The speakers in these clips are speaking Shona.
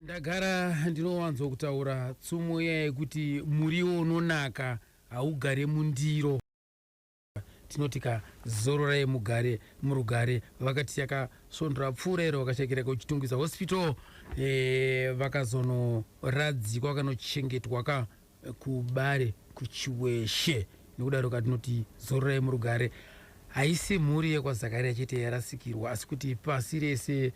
Ndagara ndinowanzo kutaura tsumo iya yekuti muriwo unonaka haugare mundiro tinoti ka zororai mugare murugare vakati yakasvondo rapfuura iro vakashakira kuchitungwiza hospital e, vakazonoradzikwa vakanochengetwa ka kubare kuchiweshe nekudaro katinoti zororai murugare haisi mhuri yekwazakaria chete yarasikirwa asi kuti pasi rese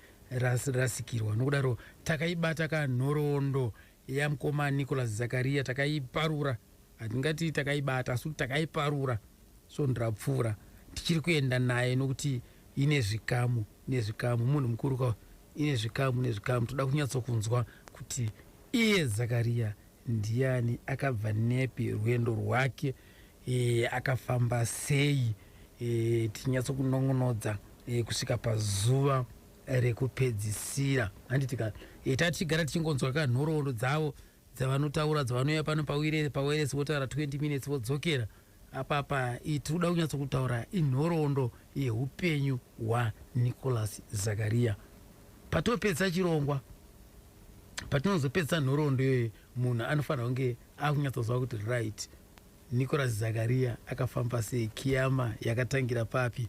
rasikirwa nokudaro takaibata kanhoroondo yamkoma nicolas zakaria takaiparura hatingati takaibata asi kuti takaiparura svondo rapfuura tichiri kuenda naye nokuti ine zvikamu nezvikamu munhu mukuru ka ine zvikamu nezvikamu toda kunyatsokunzwa kuti iye zakaria Ndiani akabva nepi rwendo rwake e, akafamba sei e, tinyatso kunongonodza e, kusvika pazuva rekupedzisira handiti ka e, tatigara tichingonzwa ka nhoroondo dzavo dzavanotaura dzavanouya pano pawiresi votaura 20 minutes vodzokera Apapa iyi tiri kuda kunyatsokutaura inhoroondo yeupenyu hwaNicholas Zakaria. Patopedzisa chirongwa, patinozopedzisa nhoroondo iyoyo, munhu anofanira kunge akunyatsoziva kuti right, Nicholas Zakaria akafamba sei, kiyama yakatangira papi,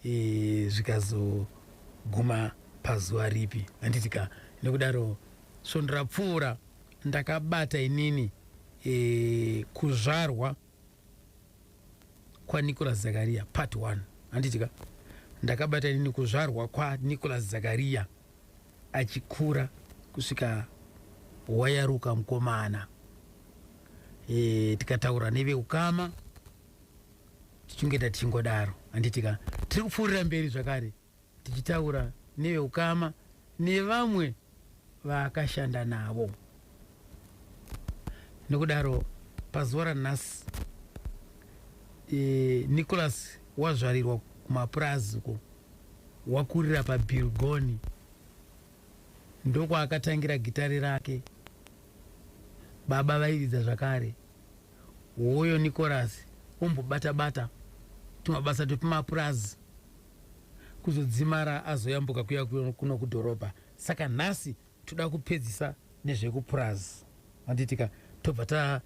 e, zvikazoguma pazuva ripi, handiti ka? Nekudaro svondo rapfuura ndakabata inini e, kuzvarwa kwanicolas zakariya part 1 handiti ka ndakabata inini kuzvarwa kwanicolas zakariya achikura kusvika wayaruka mukomana e, tikataura neveukama tichingeta tichingodaro handiti ka tiri kupfuurira mberi zvakare tichitaura neveukama nevamwe vaakashanda navo. Nokudaro pazuva ranhasi e, Nicholas wazvarirwa kumapurazi uko wakurira paBilgoni ndokwaakatangira gitare rake. Baba vairidza zvakare, hoyo Nicholas ombobata bata tumabasa twepamapurazi kuzodzimara azoyambuka kuya kuno kudhorobha saka nhasi toda kupedzisa nezvekupurazi handitika tobva ta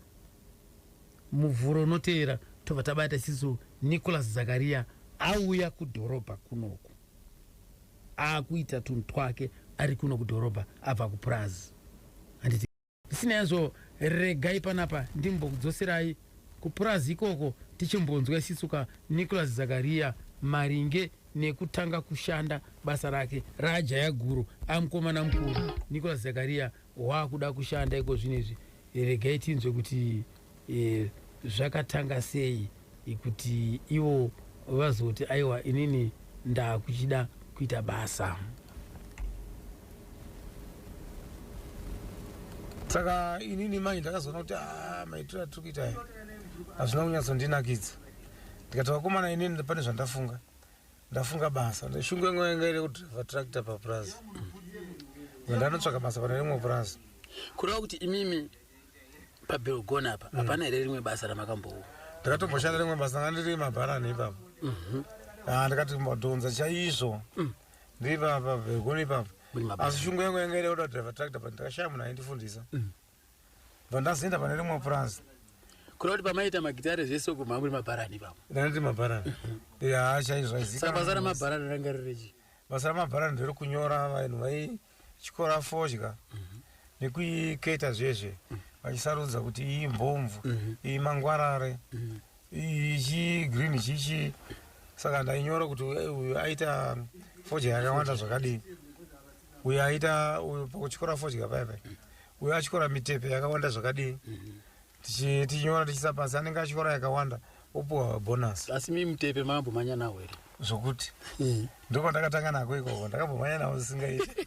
muvhuro unoteera tobva tabata siso nicholas zakariya auya kudhorobha kunoku akuita tunhu twake ari kuno kudhorobha abva kupurazi Zvisinei hazvo, regai panapa ndimbokudzoserai kupurazi ikoko tichimbonzwa isisu ka Nicholas Zakaria maringe nekutanga kushanda basa rake raajaya guru amukomana mukuru Nicholas Zakaria waakuda kushanda ikozvino izvi regai tinzwe kuti e, zvakatanga sei kuti ivo vazoti aiwa inini ndakuchida kuita basa saka inini mai ndakazoona kuti ah, maitiro atiri kuita aya hazvina kunyatsondinakidza ndikati vakomana inini pane zvandafunga ndafunga basa shungu yangu yanga iri kudriva tractor papurazi ndanotsvaka basa pane rimwe purazi kureva kuti imimi pabelgon apa mm. hapana here rimwe basa ramakambowo ndakatomboshanda rimwe basa nga ndiri mabharani ipapo mhm. ah, ndikati mbodhonza chaizvo mm. ndiri papa belgon ipapo asi shungu yangu yanga iri oda driver tractor but ndakashaya munhu aindifundisa mm. bva ndazoenda pane rimwe purazi kuda kuti pamaita magitare zvese uko mamuri mabharani ipapo ndandiri mabharani mhm. ya chaizvo aizikabasa ramabharani ranga ririchi basa ramabharani ndiri kunyora vanhu vai chikora fodya nekuiketa zvezve vachisarudza kuti iyi mhomvu iyi mangwarare iyi chigreen chichi saka ndainyora kuti uyu- uyu aita fodya yakawanda zvakadii uyu aita uyu pakutyora fodya paipai uyu atyora mitepe yakawanda zvakadii tichi- tichinyora tichiisa pasi anenge achinyora yakawanda opuwa bonus asi mi mutepe mambo manya nawo here zvokuti ndiko ndakatanga nako ikoko ndakambomhanya navo zvisingaiti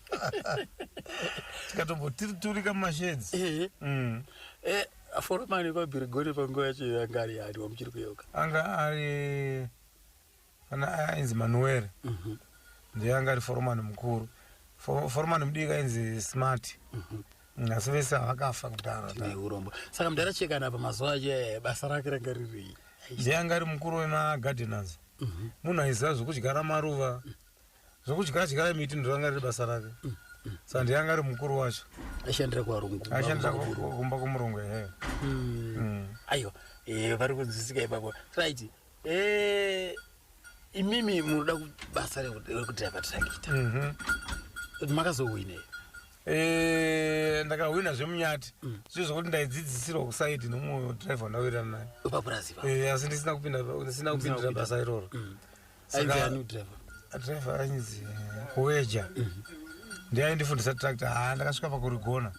tikatomboturika mumasheds Eh, Mm. eh, foromani kwabhirigoni panguva yacho yanga ari yani wamuchiri kuyeuka anga ari Kana ainzi Manuel mhm. ndiye anga ari foromani mukuru. Foromani mudiki ainzi Smart. Mhm. Asi vese havakafa kudhara. Tine urombo. Saka mudhara Chekana apa mazuva acho eh, basa rake ranga riri. Ndiye anga ari mukuru wemagardeners. Mhm. Munhu aiziva zvokudyara maruva. Zvokudyara dyara miti ndoranga riri basa rake. Saka ndiye anga ari mukuru wacho. Aishandira kuvarungu. Aishandira kumba kwomurungu ehe. Hmm. Hmm. Aiwa. Eh, vari kunzwisika ipapo. Right. Eh, imimi munoda kubasa rekudhaiva tirakita mhm. kuti makazowinei eh, ndakahwina zvemunyati mm. zvio zvokuti ndaidzidzisirwa kusaidi nomumwe drive wandawirana naye papurazi eh, asi ndisina kupindasina kupindira basa iroro mm. drive ainzi weja mm. ndiye aindifundisa tractor ha ndakasvika pakurigona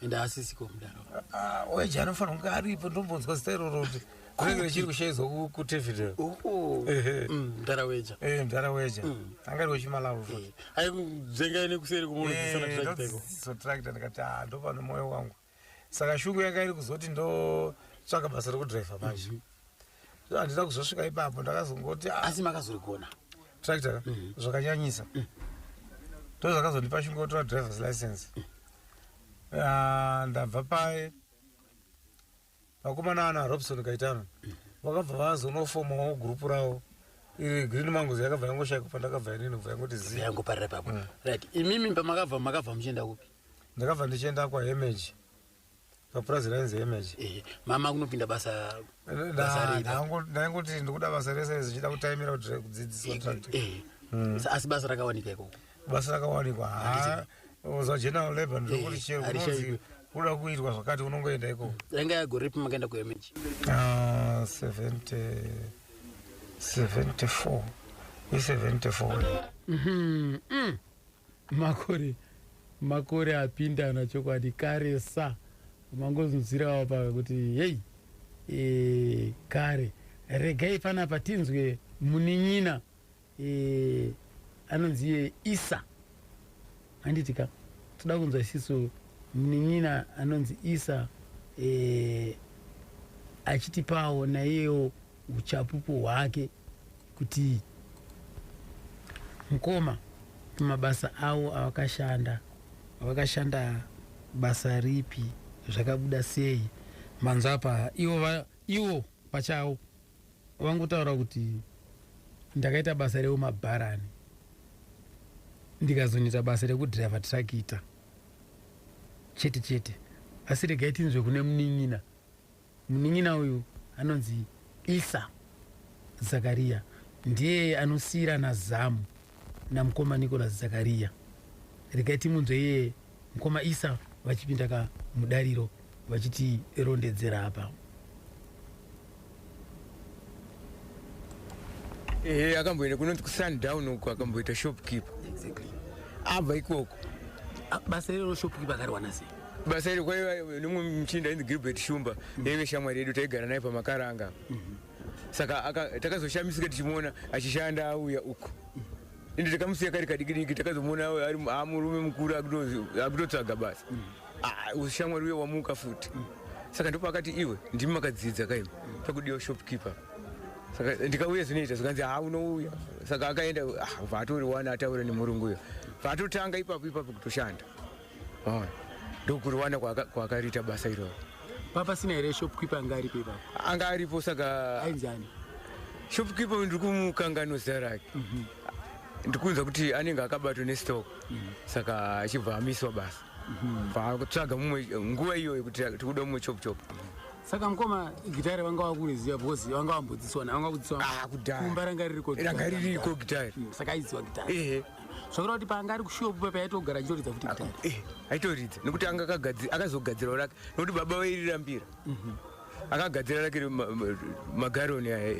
weja anofanira kunge aripo ndombonzwa zita iroro kuti kunenge richiri kushaizwa kutevideo oh. mm, mdara weja eh, mdara weja mm. angari wechimalawi futi eh, aizengai nekuseri kumonosotracta ndikati ah, ndopano moyo wangu saka shungu yanga iri kuzoti ndotsvaka basa rekudriver manje mhm. so handina kuzosvika ipapo ndakazongoti ah. asi makazorigona tractor mhm. zvakanyanyisa mm. ndo zvakazondipa shungu yotora drivers license mm. ah, ndabva paye vakomana ana robson kaitano vakabva vazonofomawo gurupu ravo iri green mangoes yakabva yangoshaika pandakabva inini kubva yangoti ziyangoparira papo mm. right imimi pamakabva makabva muchienda kupi ndakabva ndichienda kwahemage papurazi rainzi hemage eh, mama kunopinda basa ndaingoti ndikuda basa rese rese zvichida kutaimira kudzidziswa eh, eh, mm. asi basa rakawanika ikoko basa rakawanikwa ha za general labor ndokuti eh, chero kunonzi kuda kuitwa zvakati unongoenda ikoko yanga yagoripi makaenda kuemeji 74 i74 mhm, mm. makore makore apindana chokwadi kare sa mangozunzirawo paka kuti hei e, kare regai panapa tinzwe munin'ina eh, anonzi iye isa handiti ka toda kunzwa isisu munin'ina anonzi isa eh, achitipawo naiyewo uchapupu hwake kuti mukoma mabasa awo avakashanda avakashanda basa ripi zvakabuda sei manzwa apa iwo va- iwo pachawo Vangotaura kuti ndakaita basa reumabharani ndikazonoita basa rekudriver trakita chete chete asi regai tinzwe kune munin'ina munin'ina uyu anonzi isa zakariya ndiye anosiyirana zamu namukoma nicolas zakariya regai timunzwe iye Mkoma Isa vachipinda ka mudariro vachiti rondedzera apa. Eh, akamboenda kunonzi kuSundown uko akamboita shopkeeper. Exactly. Abva ikoko. Ah, basa irero shopkeeper akariwana sei? Basa iro kwaiva nomwe muchinda ainzi Gilbert Shumba, mm. yaive shamwari yedu taigara naye pamakaranga. Mm -hmm. saka takazoshamisika tichimuona achishanda auya uko ende takamusiya kari kadiki diki takazomuona amurume mukuru akutotsvaga basa mm. ah, ushamwari uye wamuka futi mm. saka ndipo akati iwe ndimi makadzidza kaimi pakudiwa shopkeeper saka ndikauya zvinoita zvikanzi ha unouya saka akaenda ah, vatori wana ataura nemurungu uyo vatotanga ipapo ipapo kutoshanda Vaona. Ndokuruwana kwaka kwakariita basa iroro. Papa sina here shopkeeper anga aripo ipapo? Anga aripo saka ainzi ani? Shopkeeper ndiri kumukangano zita rake. Mhm. Ndikunzwa kuti anenge akabatwa nestock. Mhm. Saka achibva amiswa basa. Mhm. Pakutsvaga mumwe nguva iyoyo kuti tikuda mumwe chop chop. Saka mkoma gitare vanga vakureziva because vanga vambodziswa na vanga kudziswa. Ah kudai. Kumba ranga ririko. Ranga ririko gitare. Saka aiziwa gitare. Ehe. zvakureva kuti paanga ari kushopu pepe aitogara achitoridza futi gitare eh, aitoridza nekuti anga akazogadzirawo rake nekuti baba vairirambira mhm. akagadzira rake magaroni aya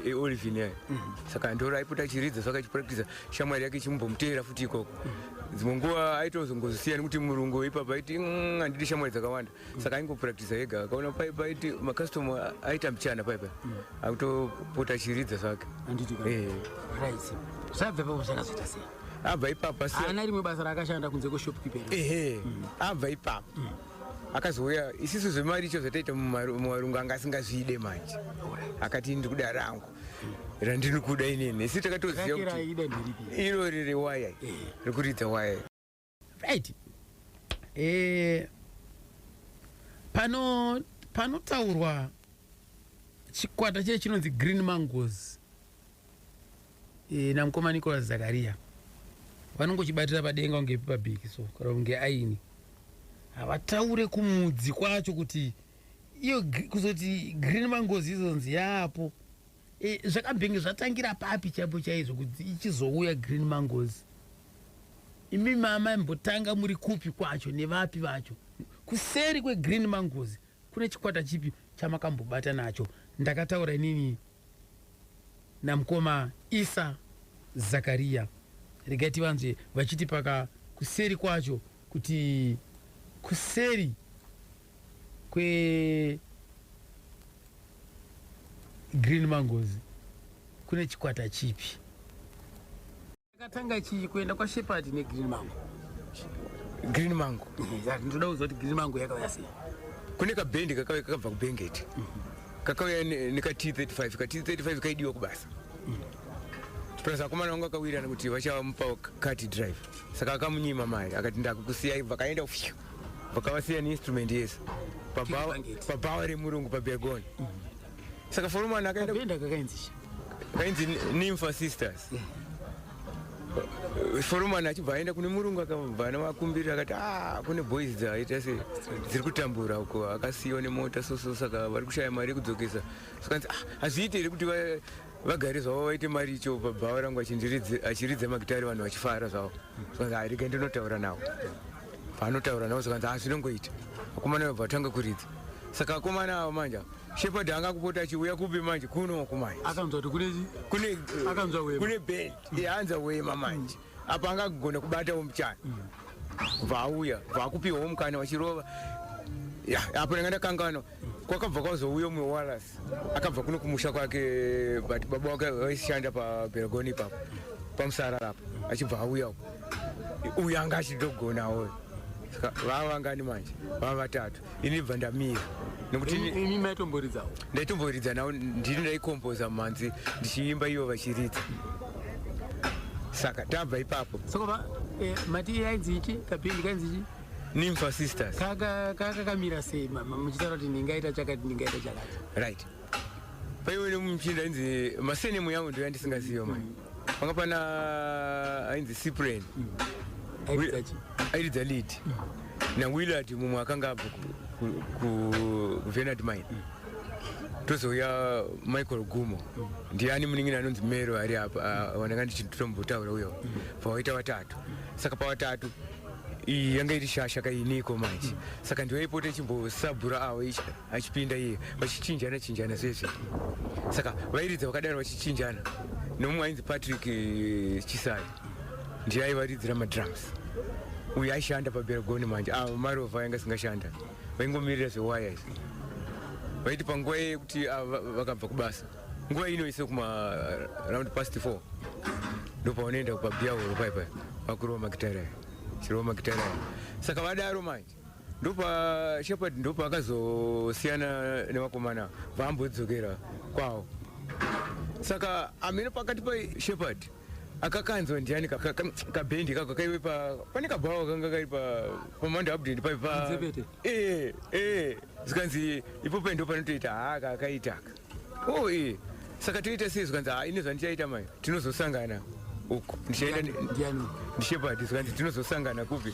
eolivin e, e, e, aya mhm. saka ndoro aipota achiridza saka achipractisa shamwari yake ichimbomuteera futi ikoko mhm. dzimwe nguva aitozongozosiya nekuti murungu ipapa aiti mm, handidi shamwari dzakawanda saka aingopractisa yega akaona pai paiti macustomer aita mchana pai pai mm. akutopota achiridza zvake eh. zvabva ipapo zvakazoita sei abva ipapo ana rimwe basa raakashanda kunze kweshopkeeper ehe mm. abva ipapo mm. akazouya isisu zvemari icho zvataita mumarungu anga asingazviide manje akati ndiri kuda rangu randiri kuda inini isi takatoziva kuti irori rewaya eh. rekuridza waya right eh, pano panotaurwa chikwata chee chinonzi green mangos eh, namukoma nicolas zakaria vanongochibatira padenga kunge pabiki so kana kunge aini havataure kumudzi kwacho kuti iyo kuzoti green mangozi izonzi yaapo Eh, zvakabhingi zvatangira papi chaipo chaizvo kuti ichizouya green mangozi imi mama mbotanga muri kupi kwacho nevapi vacho kuseri kwegreen mangozi kune chikwata chipi chamakambobata nacho ndakataura inini namukoma isa zakariya regai tivanzve vachiti paka kuseri kwacho kuti kuseri kwe green mangozi kune chikwata chipi takatanga chii kuenda kwashepati negreen mango green mango ndinoda kuziva kuti green mango yakauya sei kune kabhendi kakauya kakabva kubhengeti kakauya neka t 35 ka t 35 kaidiwa kubasa plus akomana vangu akawirirana kuti vachamupa kati drive saka akamunyima mari akati ndakukusiyai vakaenda fyu vakavasiya neinstrument yese pabhawa remurungu pabegoni saka foromani akaenda kakainzi kainzi nimfa sisters foromani achibva aenda kune murungu akabva navakumbirira akati ah, kune boys dzaita se dziri kutambura uko akasiyiwa nemota soso saka vari kushaya mari yekudzokesa sakanzi ah, hazviite here kuti vagari zvavo vaite mari icho pabhawa rangu achiridza magitari vanhu vachifara zvavo zvikanzi arega ndinotaura navo paanotaura navo zvikanzi ha zvinongoita vakomana vabva vatanga kuridza saka akomana avo manje shepard anga kupota achiuya kupi manje kunoku manje akanzwa kuti kunei kune band yaanza wema manje apa angagona kubatawo muchana bva auya bva akupiwawo mukana vachirova apo ndanga ndakangano kwakabva kwazouya umwe walas akabva kuno kumusha kwake but baba wake vaishanda pabergoni ipapo pamusarara apo achibva auya uko uyu anga achidogonawo saka vava vangani manje vava vatatu ini bva ndamira nekuti imi maitomboridzawo ndaitomboridza navo ndini ndaikomboza mhanzi ndichiimba ivo vachiridza saka tabva ipapo saka eh, mati yainzi ichi kapindi kainzi ichi nimfa sisters kaka kaka kamira sei mama muchitaura kuti ndingaita chakati ndingaita chakati right paiwe nemuchinda inzi masenemu yangu ndoyandisingaziyo mai mm. panga pana ainzi cyprian airidza lead nawillard mumwe akanga abva kuvenard mine tozouya michael gumo ndiani munin'ina anonzi mero ari apa ah, wandanga ndichitombotaura uyo pawaita vatatu saka pavatatu iyi yanga iri shasha kainiko manje saka ndiwaipota ichimbosabhura avo ichia achipinda iye vachichinjana chinjana zvese saka vairidza vakadaro vachichinjana nomumwe ainzi patrick eh, chisai ndiye aivaridzira madrums uyu aishanda paberagoni manje ah, marova ainge asingashanda vaingomirira zvewaya izvi vaiti panguva yekuti ah, vakabva kubasa nguva ino ise kuma round past four ndopavanoenda kupabiya horo paipai vakurova makitara chirova makitara saka vadaro manje ndopa shepherd ndopa akazosiyana nevakomana vaambodzokera kwawo saka amene pakati pa shepherd akakanzwa ndiani kabendi kako kaive pane kabhawa kanga kari pamanda abdend pai ee ee zvikanzi ipo paindo panotoita haa kakaitaka o ee saka toita sei zvikanzi haa ine zvandichaita mai tinozosangana uku ndichaenda ndishepadi zvikanzi tinozosangana kupi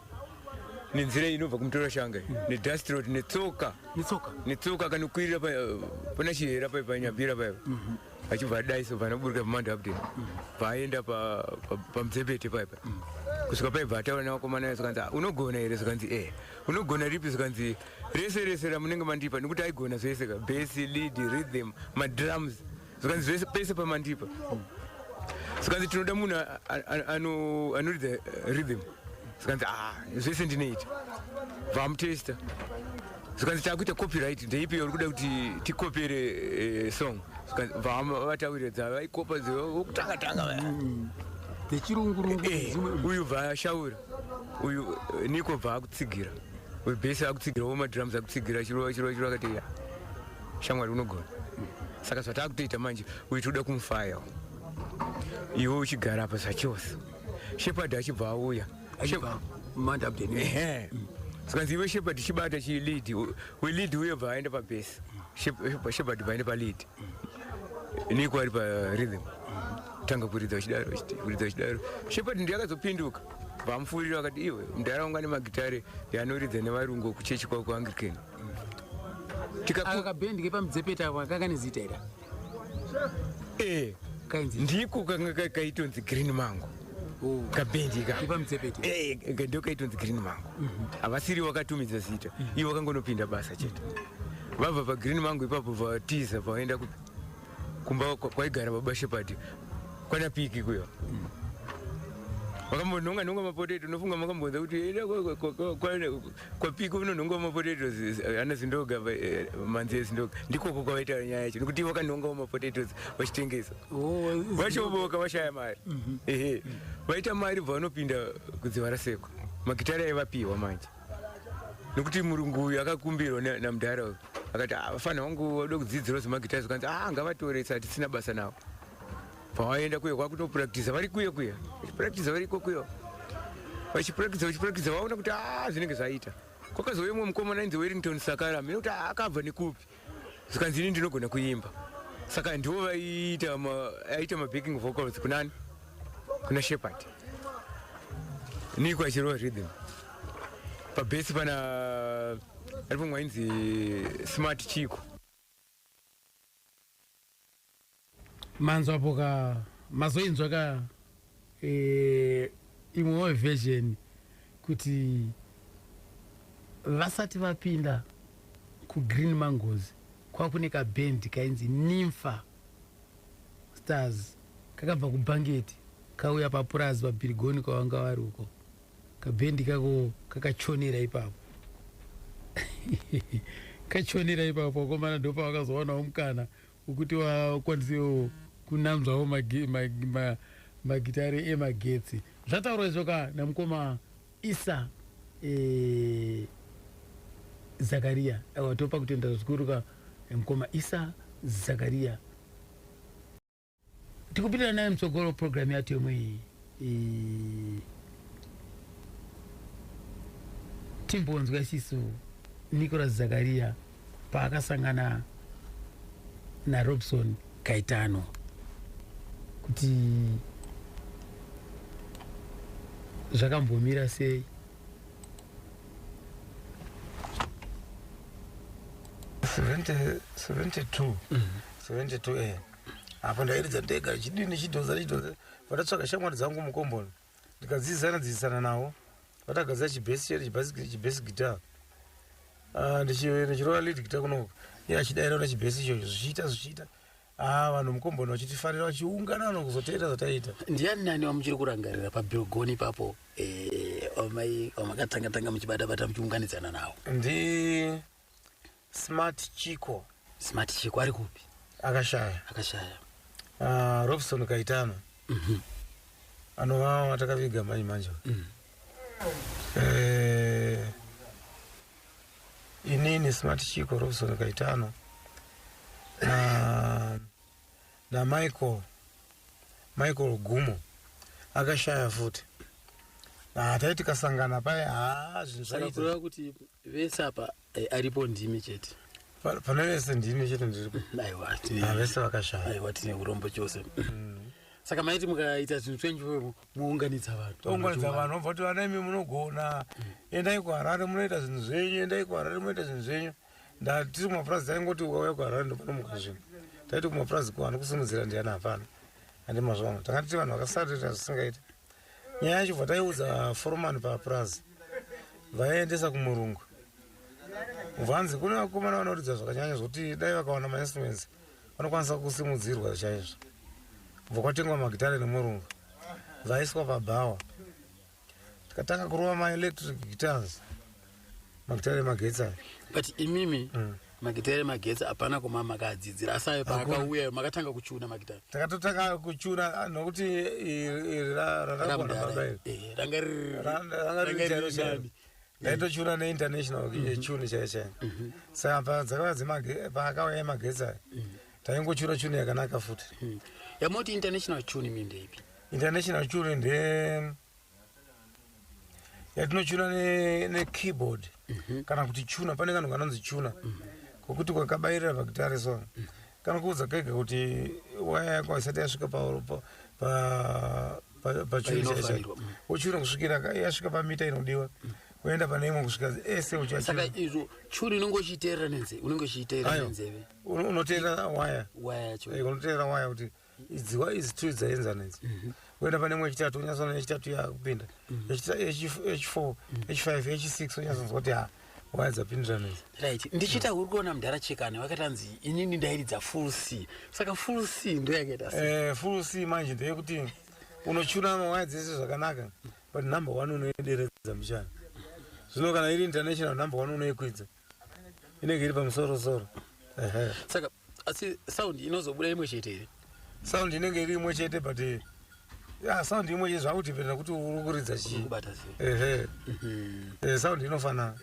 nenzira inobva kumutora shanga nedastrot netsoka netsoka akanokwirira pana chihera pai panyabira paiva mhm. achibva adaiso panaburika pamanda apdin mhm. paaenda pamudzebete paipa mhm. kusvika paibva ataura nevakomana ayo zvikanzi ah, unogona here zvikanzi e eh, unogona ripi zvikanzi rese rese ramunenge mandipa nekuti aigona zvese ka besi lead rhythm madrums zvikanzi zvese pese pamandipa zvikanzi tinoda munhu anoridza eh, rhythm zvikanzi ah, zvese ndinoita vamutesta zvikanzi takuita copyright ndeipi uri kuda kuti tikopere eh, song vataurira dzavaikopa dzokutanga tanga dzechirungurungu uyu vashaura uyu eh, niko bva akutsigira uyu bese akutsigira womadrums akutsigira chirova chirova chirova akati shamwari unogona saka zvatakutoita manje uyu tikuda kumufaya iwe uchigara apa zvachose shepard achibva auya zvikanzi iwe shepard chibata chilead welead uye bva aenda pabase shepard bva aenda palead niko ari parhythm tanga kuridza chidaro kuridza chidaro shepard ndiye akazopinduka vamufurira vakati iwe mdharaunga nemagitare yanoridza nevarungu kuchechi kwako anglican aka kabendi kepamudzepeta ako akaka nezita ira eh. kainzi ndiko kanga kaitonzi green mango oh. kabendi kapamudzepeta eh, eh, ndo kaitonzi green mango mhm. havasiri wakatumidza zita mhm. ivo vakangonopinda basa chete vabva pagreen mango ipapo vatiza vaenda kumba kwaigara baba shepadi kwana piki kuyo mhm. vakambonhonga nhonga mapoteto unofunga makambonza kuti kwapiko unonhonga mapotatoes eh, ana zindoga eh, manzi ezindoga ndikoko kwavaita nyaya yacho nekuti vakanhongawo mapotatoes vachitengesa oh, vachoboka vashaya mari mhm. ehe vaita mari bva vanopinda kudziva rasekwa magitari aivapiwa manje nekuti murungu uyu akakumbirwa namudhara uyu akati ah, vafana vangu vada kudzidzirawo zvemagitari zvakanzi a ah, ngavatoresa hatisina basa navo pavaenda kuye kwakutopurakitiza vari kuye kuya vachipurakitiza vari ikokuyo vachipurakitiza vachipurakitiza vaona kuti a ah, zvinenge zvaita kwakazouya umwe mukomana ainzi werington sakara mine kuti ah, akabva nekupi zvikanzi ini ndinogona kuimba saka ndivo vaiita aita mabacking vocals kunani kuna shepherd niko achirova rhythm pabesi pana ari pomwe ainzi smart chiko manzwa po ka mazoinzwa ka eh, imwewo version kuti vasati vapinda kugreen mangozi kwakune kabhendi kainzi nimfa stars kakabva kubhangeti kauya papurazi pabhirigoni kwavanga vari uko kabhendi kako kakachonera ipapo kachonera ipapo akomana ndopavakazowanawo mukana wekuti vakwanisewo kunanzvawo magitare emagetsi zvataurwa izvo ka namukoma isa e, zakariya awa topa kutenda zvikuru ka mukoma isa zakariya tikupinda naye mutsogoro program yatemo iyi timbonzwa isisu nicolas zakaria paakasangana narobson kaitano kuti zvakambomira sei seventy two seventy two mm. eh apa ndairidza ndega ndichidii ndichidhonza ndichidhonza vatatsvaga shamwari dzangu mukomboni ndikadzidzisana dzidzisana navo vatagadzira chibhesi chete chibhesi guitar ah, ndichirova lead guitar kunoka iye achidaira na chibhesi ichocho zvichiita zvichiita ah, vanhu mukomboni vachitifarira vachiungana vano kuzoteera zvataiita ndiani nani wamuchiri kurangarira pabilgoni ipapo eh, wamai wamakatanga tanga muchibata bata muchiunganidzana navo ndi smart chiko smart chiko ari kupi akashaya akashaya uh, robson kaitano mm -hmm. anova watakaviga manje manje mm. eh, inini smart chiko robson kaitano na, na michael michael gumo akashaya futi ah, taiti kasangana paye ah, zvinhu zvaita kuti vese apa eh, aripo ndimi chete Pa- pane vese ndimi chete ndiripo aiwa Ah, tine vese vakashaya aiwa tine urombo chose saka maiti mukaita zvinhu twenyu ivoyo mounganidza vanhu tounganidza vanhu vobva kuti vana imi munogona endai kuharare munoita zvinhu zvenyu endai kuharare munoita zvinhu zvenyu ndatiri kumapurazi taingoti ukauya kuharare ndopanomuka zvinhu taiti kumapurazi kuvanhu kusimudzira ndiani hapana andi mazuva ano tanga tiri vanhu vakasarira zvisingaiti Nyaya yacho bva taiudza foromani papurazi vaiendesa kumurungu vanzi kune vakomana vanoridza zvakanyanya zvokuti dai vakawana mainstruments vanokwanisa kusimudzirwa chaizvo bva kwatengwa magitare nemurungu vaiswa pabhawa tikatanga kurova maelectric guitars magita ere magetsi aya but imimi mm. magita ere magetsi hapana kuma makaadzidzira asi ayo paakauya makatanga kuchuna magita takatotanga kuchuna nokuti iri rakaona baba iri eh, ranga riri ndaitochura neinternational mhm. chuni chaiye chaiye mhm. saka paakauya yemagetsi aya mhm. taingochura chuni yakanaka futi yamoti international chuni mindeipi international chuni nde yatinochuna nekeyboard ne mhm. kana kuti chuna pane kanhu kanonzi chuna mhm. kokuti kwakabayirira pakitare so mhm. kanokuudza kega kuti waya yako haisati yasvika pachunaichai wochuna kusvikira yasvika pamita inodiwa woenda pane imwe kusvika ese uchasaka izvo churi unenge uchiteerera nenzeve unenge uchiteerera nenzeve unoteerera waya waya yacho unoteerera waya kuti idziwa idzi two dzaenzana idzi mhm. woenda pane mwe yechitatu unyasoona yechitatu yakupinda mhm. h4 h5 h6 unyasonzwa kuti ha waya dzapindirana idzi rit ndichiita uri kuona mudhara chekani wakatanzi inini ndairidza full c saka full c ndo yakaita eh, full c manje ndeyekuti unochuna mawaya dzese zvakanaka but number one unoideredza muchana zvino kana iri international number one unoikwidza inenge iri pamusoro soro saka asi sound inozobuda imwe chete here sound inenge iri imwe chete but eh, ya sound imwe chete zvakutipenda kuti uri kuridza chii ehe mhm. eh, sound inofanana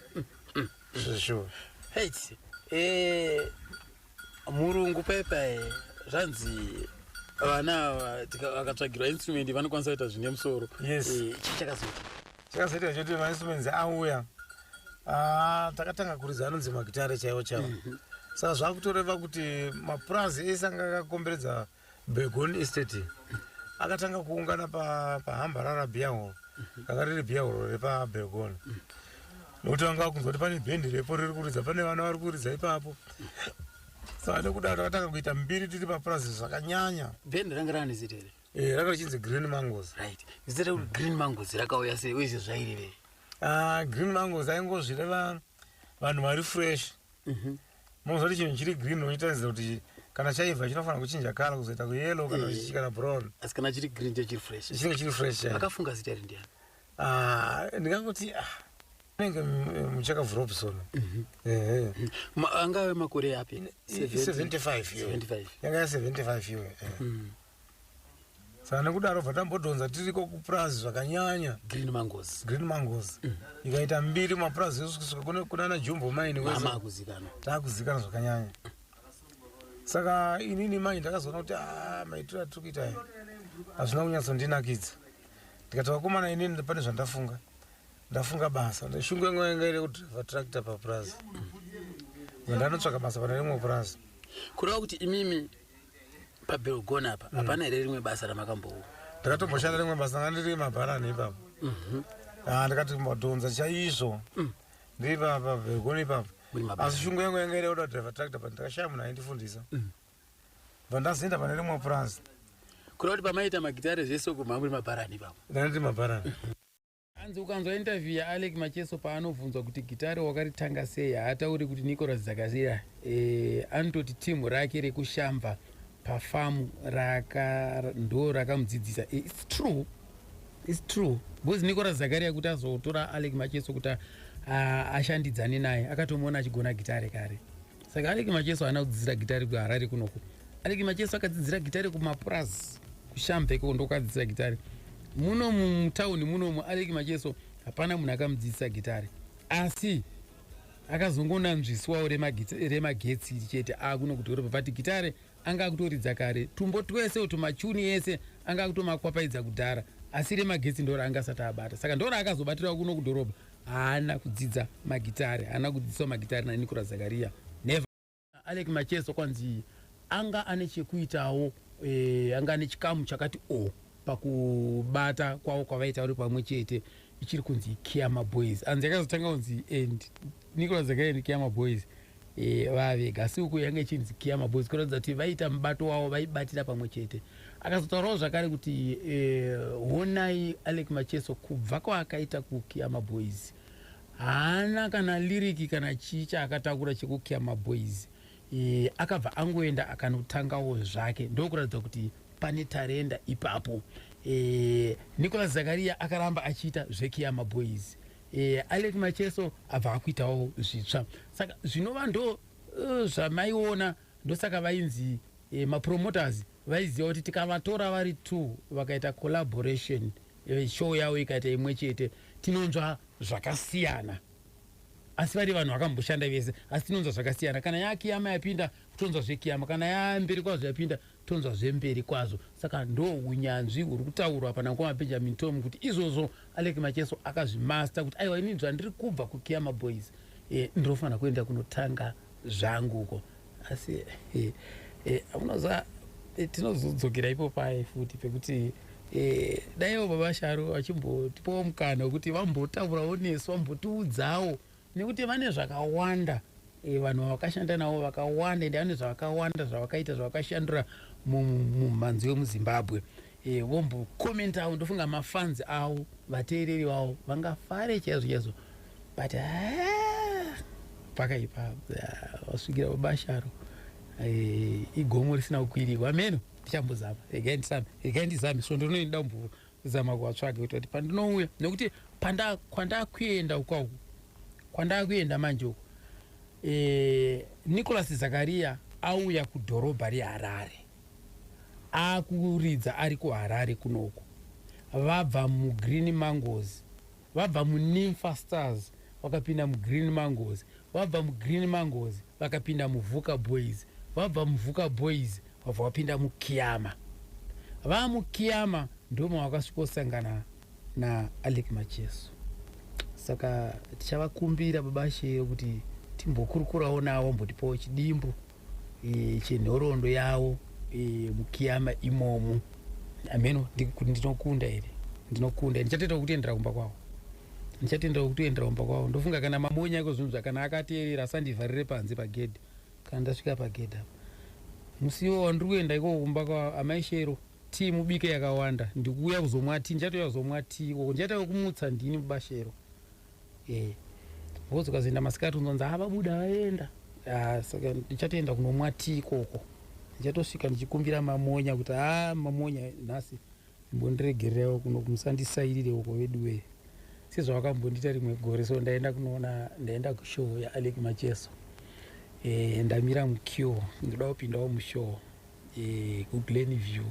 zveshuwa mm, mm. hate eh, murungu pepa zvanzi vana vakatsvagirwa instrument vanokwanisa kuita zvine musoro chii chakazoita chakazoita choti mainstruments auya ah, takatanga kuridza anonzi magitare chaiwo chaiwo mhm. saka zvakutoreva kuti mapurazi ese anga akakomberedza begon estate akatanga kuungana pahambarara pa biahoro mhm. ranga riri biahoro repabegon mhm. nokuti vanga vakunzwa kuti pane bhendi repo riri kuridza pane vana vari kuridza ipapo saka nekuda takatanga kuita mbiri tiri papurazi zvakanyanya bhendi ranga ranizitere Eh, ranga richinzi green mangoes right zita rekuti green mangoes rakauya sei uye zvezvairevei Ah, green mangoes aingozvireva vanhu vari fresh Mhm. moziva kuti chinhu chiri green unotaridza kuti kana chaibva chinofanira kuchinja kala kuzoita kuyellow kana Eh. chichi kana brown asi kana chiri green chachiri fresh chinenge chiri fresh chaizvo. akafunga zita iri ndiani Ah, ndingangoti ah, inenge mu- muchakabvu robson Ehe. Ma- angave makore api I- i- 75 iyo. 75 yanga ya 75 iyo eh. Mm. saka nekudaro bva tambodhonza tiriko kupurazi zvakanyanya green mangoes green mangoes mm. ikaita mbiri mapurazi esu kusvika kunana jumbo maini wese takuzikana zvakanyanya saka inini mai ndakazoona kuti ah, maitiro atiri kuita aya hazvina kunyatsondinakidza ndikati vakomana inini pane zvandafunga ndafunga basa shungu yangu yanga iri kudriva tractor papurazi ndanotsvaka basa pane rimwe purazi kureva kuti imimi pabelgon apa mm. hapana here rimwe basa ramakambowo ndakatomboshanda rimwe basa nga ndiri mabharani ipapo mhm. ah, ndikati mbodhonza chaizvo mm. ndiri papa belgon ipapo asi shungu yangu yanga iri oda driver tractor but ndakashaya munhu aindifundisa mm. bva ndazoenda pane rimwe purazi kuda kuti pamaita magitare zvese uko mamuri mabharani ipapo ndandiri mabharani mhm. Hanzi ukanzwa interview yaAlec Macheso paanobvunzwa kuti gitare wakaritanga sei haatauri kuti Nicholas Dzakasira eh, anototi team rake rekushamba pafamu raka ndo rakamudzidzisa eh, it's true it's true because Nicholas Zakaria kuti azotora Alec Macheso kuti ah, ashandidzane naye akatomuona achigona gitare kare saka aleki macheso haana kudzidzira gitari kuharare kunoku aleki macheso akadzidzira gitari kumapurazi kushambe ikoko ndokuadzidzira gitari muno mutauni munomu aleki macheso hapana munhu akamudzidzisa gitari asi akazongonanzviswawo remagetsi iri chete akuno kudhorobha but gitare anga akutoridza kare tumbo twese uto machuni ese anga akutomakwapaidza kudhara asi remagetsi ndora anga asati abata saka ndora akazobatirawo kuno kudhorobha haana kudzidza magitare haana kudzidziswa magitare nanikora zakaria never alek macheso kwanzi anga ane chekuitawo eh, anga ane chikamu chakati o oh, pakubata kwavo kwavaita vari pamwe chete ichiri kunzi kiama boys anzi akazotanga kunzi and eh, nicola zakaria ndi kiama boys e, vavega asi uku yange ichinzi kiyama boys kuratidza kuti vaiita mubato wavo vaibatira pamwe chete akazotaurawo zvakare kuti e, honai alec macheso kubva kwaakaita kukiyama boys haana kana liriki kana chii chaakatakura chekukiyama boys e, akabva angoenda akanotangawo zvake ndokuratidza kuti pane tarenda ipapo e, nicolas zakaria akaramba achiita zvekiyama boys e, alec macheso abva akuitawo zvitsva saka zvinova ndo uh, zvamaiona ndosaka vainzi e, mapromoters vaiziva kuti tikavatora vari two vakaita collaboration e, show yavo ikaita imwe chete tinonzva zvakasiyana asi vari vanhu vakamboshanda vese asi tinonzwa zvakasiyana kana yakiyama yapinda kutonzwa zvekiyama kana yamberi kwazvo yapinda tonzwa zvemberi kwazvo saka ndo unyanzvi huri kutaurwa apa nankoma benjamin tom kuti izvozvo alek macheso akazvimaster kuti aiwa ini zvandiri kubva kukiyama boys e, ndinofanira kuenda kunotanga zvangu uko asi e, eh, e, eh, unoziva e, tinozodzokera ipo paye futi pekuti e, daiwo baba sharo vachimbotipawo mukana wekuti vambotaurawo nesu vambotiudzawo nekuti vane zvakawanda eh, vanhu vavakashanda navo vakawanda ende vane zvavakawanda zvavakaita zvavakashandura mumhanzi wemuzimbabwe eh, vombokomentawo ndofunga mafanzi avo vateereri vavo vangafare chaizvo chaizvo but ah, pakaipa ah, vasvikira vabasharo eh, igomo risina kukwirirwa meno ndichambozama regai ndizame regai ndizame svondo rinoinda mvura zama kuvatsvage kuita kuti pandinouya nekuti kwandakuenda ukwa uku kwandakuenda manje uku e, eh, nicolas zakariya auya kudhorobha reharare akuridza ari kuharare kunoku vabva mugreen mangozi Vabva muNympha Stars vakapinda muGreen Mangoes, vabva muGreen Mangoes vakapinda muVuka Boys, vabva muVuka Boys vabva vapinda muKiama. Vaa muKiama ndoo mavakasvikosangana naAlick Macheso. Saka tichavakumbira baba Shero kuti timbokurukurawo navo vambotipawo chidimbu. e, chenhorondo yavo e, mukiyama imomo ameno kuti ndinokunda here ndinokunda ndichatendera kutendera kumba kwavo ndichatendera kutendera kumba kwavo ndofunga kana mamonya iko zvinhu zvakana akateerera asandivharire panze pagedhe kana ndasvika pagedhe apa musiwo wandiri kuenda ikoko kumba kwavo amai shero tii mubike yakawanda ndikuuya kuzomwa tii ndichatouya kuzomwa tii ikoko ndichaita wekumutsa ndini mubashero eh ngozi ukazoenda masikati unzonzi ava buda vaenda ah, saka ndichatoenda kunomwa tii ikoko ndichatosvika ndichikumbira mamonya kuti a ah, mamonya nhasi imbondiregererewo kuno kumusandisairire uko veduwee sezvavakambondiita rimwe gore so ndaenda kunoona ndaenda kushow yaalek macheso e, ndamira mucure ndoda kupindawo mushow e, eh, kuglen view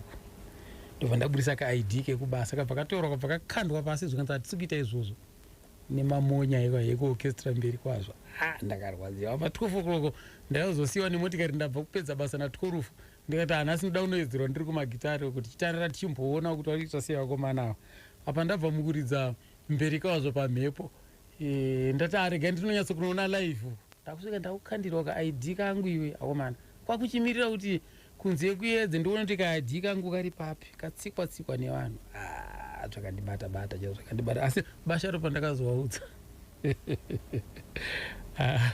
ndobva ndaburisa kaid kekubasa kabva katorwa kabva kakandwa pasi zvikanzi hatisi kuita izvozvo nemamonya iko yeko orchestra mberi kwazvo ha ndakarwadziwa pa 12 o'clock ndaizosiyiwa nemotikari ndabva kupedza basa na 12 ndikati hanasi ndoda kunoedzerwa ndiri kumagitari kuti chitarira tichimboona kuti vakuita sei vakomana ava apa ndabva mukuridza mberi kwazvo pamhepo e, ndati arega ah, ndinonyatso kunoona live ndakusvika ndakukandirwa ka id kangu iwe akomana kwakuchimirira kuti kunze kuyedze ndoona kuti kadyi kangu kari papi katsikwa tsikwa nevanhu ah, zvakandibata bata chao zvakandibata asi basharo pandakazovaudza ah,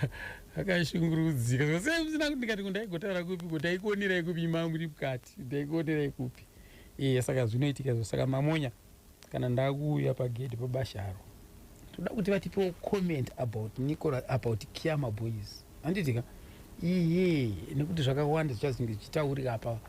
akashungurudzika zvasina kuti ndikati ndaigotara kupi kuti ndaikuonerai kupi imangu iri mukati ndaikuonerai kupi iye saka zvinoitika zvo saka mamonya kana ndakuuya pagedhi pabasharo toda kuti vatipewo comment about nicola about kiama boys handiti ka iye nekuti zvakawanda zvichazenge zvichitaurika apa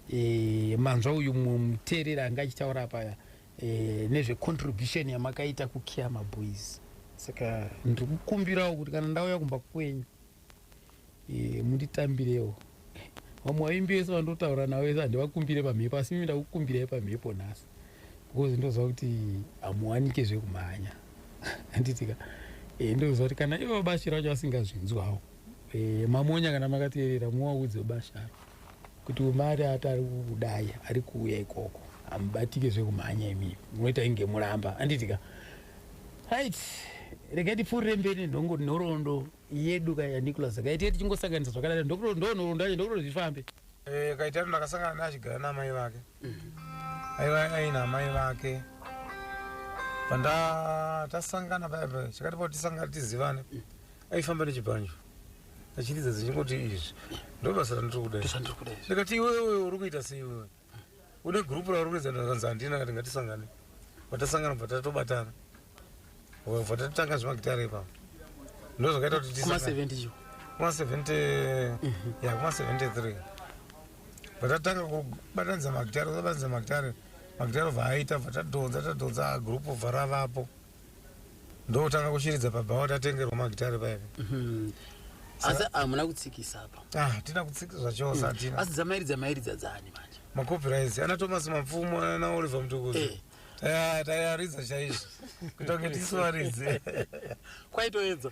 e, manzwa uyu muteereri anga achitaura apa e, eh, nezvecontribution yamakaita kukiama boys saka ndiri kukumbirawo kuti kana ndauya kumba kwenyu e, munditambirewo vamwe vaimbi vese vandotaura navo vese handivakumbire pamhepo asi mimi ndakukumbirai pamhepo nhasi because ndoziva kuti hamuwanike zvekumhanya anditika e, eh, ndoziva kuti kana ivo vabashira vacho vasingazvinzwawo e, eh, mamonya kana makateerera muwaudze ubasharo kuti umari ati ari kudai ari kuuya ikoko hamubatike zvekumhanya imimi munoita inge muramba anditika right regai tipfuurire mberi nenhongo nhorondo yedu ka yanicholas kaite tichingosanganisa zvakadaro ndokuro ndonorondanye ndokuro zvifambe Eh, kaitano ndakasangana naye achigara naamai vake aiva aina amai vake panda tasangana paya paya chakati pao tisangana tizivane aifamba nechibhanjo achiridza dzichingoti izvi ndobasa randiri kuda iri. ndikati iwewe uri kuita seiwewe une group rauri kuedza ndakanzi handina kati ngatisangane vatasangana bva tatobatana bva tatotanga zvemagitare ipapa ndo zvakaita kuti kuma 70 kuma 70 ya kuma 73 bva tatanga kubatanidza magitare kubatanidza magitare magitare bva aita bva tadhonza tadhonza group bva ravapo ndokutanga kushiridza pabhawa tatengerwa magitare paya Mhm. asi hamuna kutsikisa apa ah tina kutsika zvachose hatina asi dzamairidza mairidza dzaani manje macopyrights ana thomas mapfumo ana oliver mtukuzi Eh. taiaridza chaizvo kuita kunge tisu varidzi kwaitoedza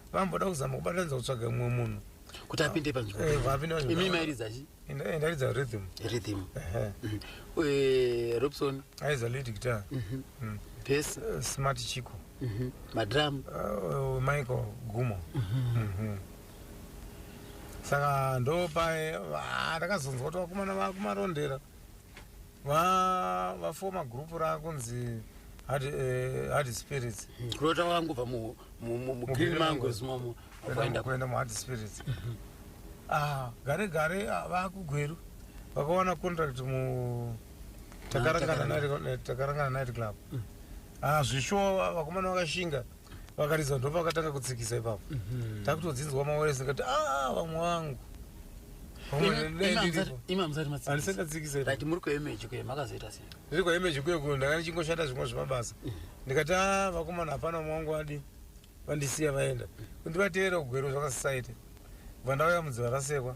vamboda kuzama kubatanidza kutsvaga mumwe munhu kuti apinde eh, panzvimboimi mairidza chi ndaridza rhythm rhythm mhm. eh, robson aiza lead guitar mhm. mm. bes eh, smart chico mhm. madram michael gumo saka ndopae ah, ndakazonzwa kuti vakomana vakumarondera va vafoma group rakunzi hard, eh, hard spirits kurota wangobva mu- mu- mu- mu green mangoes momo kuenda kuenda muhard spirits ah, gare gare ah, vakugweru vakawana contract mu takarangana Takarangana. night- eh, takarangana night club ah, zvishowa vakomana vakashinga vakaridza ndopa vakatanga kutsikisa ipapo mhm. takutodzinzwa maworesi kati aa ah, vamwe wangu imamzatimatsikisaati muri kuemeji kuye makazoita sei ndiri kuemeji kuye kuyo ndanga ndichingoshanda zvimwe zvemabasa mhm. ndikati a ah, vakomana hapana vamwe wangu adi vandisiya vaenda kundivateera kugwero zvakasisaite bva ndauya mudziva rasekwa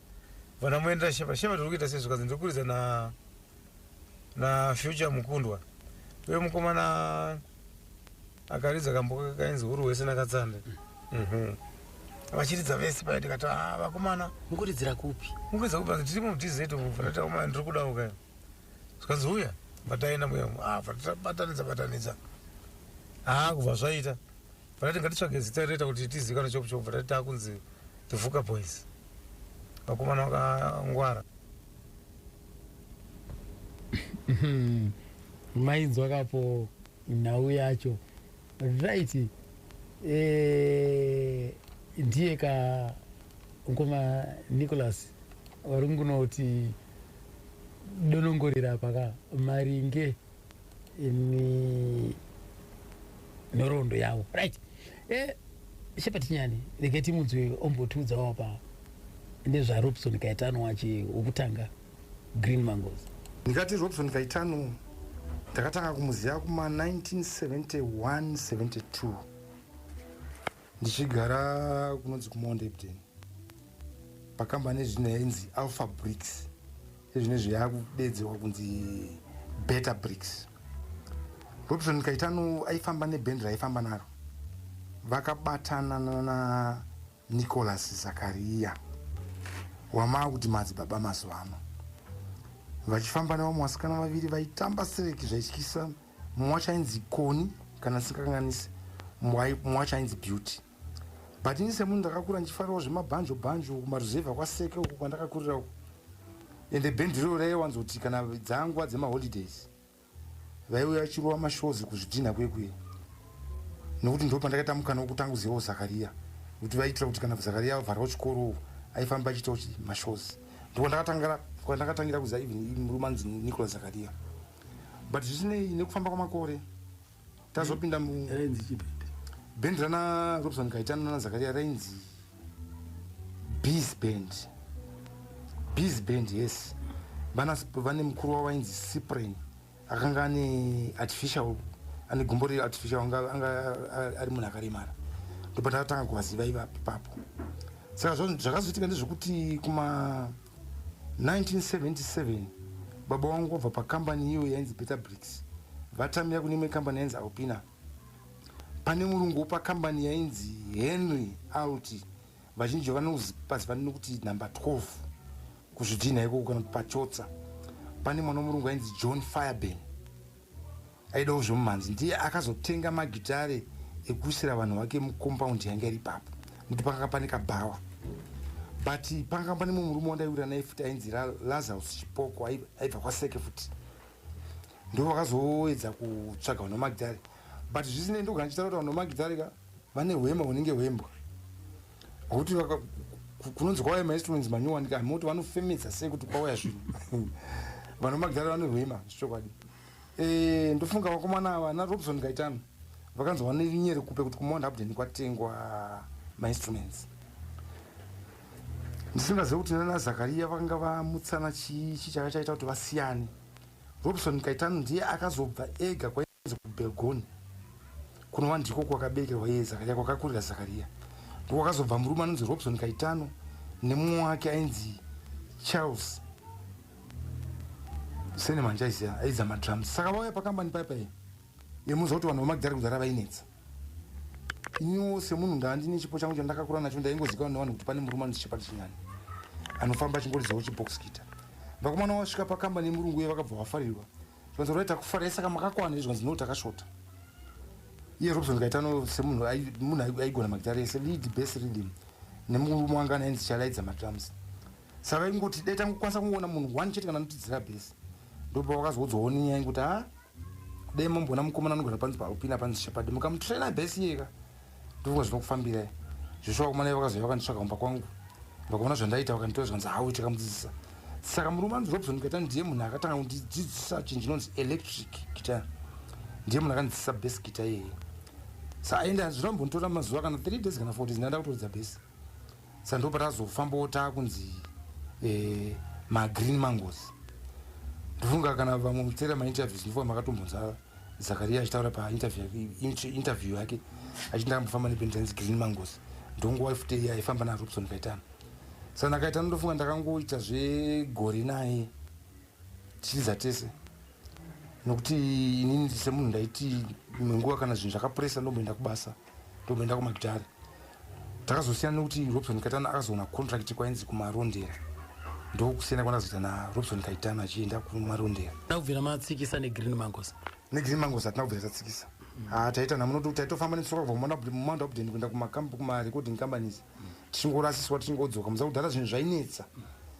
Vana muendera shema shema tiri kuita sei zvikanzi ndiri kuridza na na future mukundwa uye mukomana akaridza kambo kainzi huru wese nakatsande mhm. vachiridza vese paya ndikati ah, vakomana mukuridzira kupi mukuridzira kupi vanzi tirimo mudz umu fanata komana ndiri kudawo kaya zvikanzi uya bataenda muya umu ah, fanata batanidza batanidza haa kubva zvaita Vakati ngatitsvage zita rinoita kuti tizivikanwe chopu chopu, vakati takunzi the Vuka Boys, vakomana vakangwara. Mainzwa kapo nhau yacho right. Eh, ndiye ka mkoma Nicholas vari kunoti donongorera apa ka maringe imi nhoroondo yavo right eh, shepat nyani regai timunzwe ombotiudzawo pa nezvarobson kaitano wache wokutanga green mangos ndikati robson kaitano ndakatanga kumuziva kuma 1971 72 ndichigara kunonzi kumondebden pakambani ezvino yainzi alpha bricks ezvino izvo yaakudedzerwa kunzi beta bricks robson kaitano aifamba nebhendi raifamba naro vakabatana nana nicolas zakariya wamaa kuti madzibaba mazuva ano vachifamba nevamwe vasikana vaviri vaitamba sireki zvaityisa mumwe wacho ainzi koni kana ndisingakanganisi mumwe wacho ainzi beauty but ini semunhu ndakakura ndichifarirawo zvemabhanjo bhanjo kumaruzevha kwaseke uku kwandakakurira uku and the band reo raiwanzoti kana dzanguva dzemaholidays vaiuya vachirova mashows kuzvidhinha kuye kuye nokuti ndo pandakaita mukana wokutanga kuzivawo zakariya kuti vaitira kuti kana zakariya avharwa chikoro aifamba achiitawo mashows ndiko ndakatangira kuziva even murume anzi nicolas zakariya but zvisinei nekufamba kwamakore tazopinda bhendi rana robson kaitana nana zakaria rainzi bees band bees band yes vane mukuru wavo vainzi cyprin akanga ane artificial ane gumbo riri artificial anga ari munhu akaremara ndopatakatanga kuvaziva ivapo ipapo saka zvakazoitika ndezvekuti kuma 1977 baba wangu vabva pakambani iyo yainzi Beta Bricks vatamira kune imwe kambani yainzi Alpina. Pane murungu wepakambani yainzi Henry Alti vazhinji vanoziva nekuti number 12 kuzvidhinha ikoko kana kuti pachotsa. Pane mwana wemurungu ainzi John Fireburn Aidawo zvemumhanzi ndiye akazotenga magitare ekuisira vanhu vake mucompound yange iri ipapo nekuti pakanga pane kabhawa but pakanga pane mumwe murume wandaiwira naye futi ainzi lazarus chipoko aibva kwaseke futi ndo vakazoedza kutsvaga vanhu vamagitare but zvisinei ndogana ndichitaura kuti vanhu vamagitare ka vane hwema hunenge hwembwa hwekuti kunonzi kwauya mainstruments manyowani ka hamoti vanofemedza sei kuti kwauya zvinhu vanhu vamagitare vane hwema zvichokwadi Eh, ndofunga vakomana ava ana robson gaitano vakanzi vanenyere kupe kuti kumount upden kwatengwa mainstruments ndisingazive kuti nana zakariya vanga vamutsana chii chi chaka chaita kuti vasiyane robson gaitano ndiye akazobva ega kwainzi kubelgoni kunova ndiko kwakaberekerwa iye zakariya kwakakurira zakariya ndokwakazobva murume anonzi robson gaitano nemumwe wake ainzi charles sene manjaisiya aidza madrums saka vauya pakambani paya paya yemuza kuti vanhu vamagidhari kudhara vainetsa iniwo semunhu ndaandine chipo changu chandakakura nacho ndaingozikanwa nevanhu kuti pane murume anochichapa chinyani anofamba achingoridzawo chibox kita vakomana wasvika pakambani yemurungu uye vakabva vafarirwa zvikanzi rai takufarai saka makakwana izvikanzi no takashota iye robson kaitano semunhu munhu aigona magidhari ese lead best reading nemurume wanga anainzi chalaidza madrums saka ingoti dai tangokwanisa kungoona munhu one chete kana anotidzira base ndopa wakazoudzawo nenyaya yekuti ha dai mamboona mukomana anogara panzi paalpina panzi shepadi mukamutraina base iyeka ndofunga zvinokufambirai zvesho vakomana iye vakazouya vakanditsvaga kumba kwangu vakaona zvandaita vakanditora zvikanzi hawo takamudzidzisa saka murume anzi robson kata ndiye munhu akatanga kundidzidzisa chinhu chinonzi electric kita ndiye munhu akandidzidzisa base kita iyeye sa aende zvinombonditora mazuva kana three days kana four days ndaenda kutoridza base sa ndopa tazofambawo takunzi eh, magreen mangoes ndofunga kana vamwe mutsera mainterviews ndofunga makatombonzwa zakaria achitaura painterview yake achiti ndakambofamba nependanzi green mangoes ndonguva futi iye aifamba narobson kaitana sa ndakaitana ndofunga ndakangoita zvegore naye tichitiza tese nokuti inini semunhu ndaiti imwe nguva kana zvinhu zvakapuresa ndomboenda kubasa ndokuenda kumagitare takazosiyana nekuti robson kaitana akazoona contract kwainzi kumarondera ndokusiyana kwandakazoita narobson kaitana achienda kumarondera takubvira matsikisa negreen mangos negreen mangos hatina kubvira tatsikisa ah, taita namunoti taitofamba netsoka kubva kumamanda abden kuenda kumarecording companies tichingorasiswa tichingodzoka muza kudhara zvinhu zvainetsa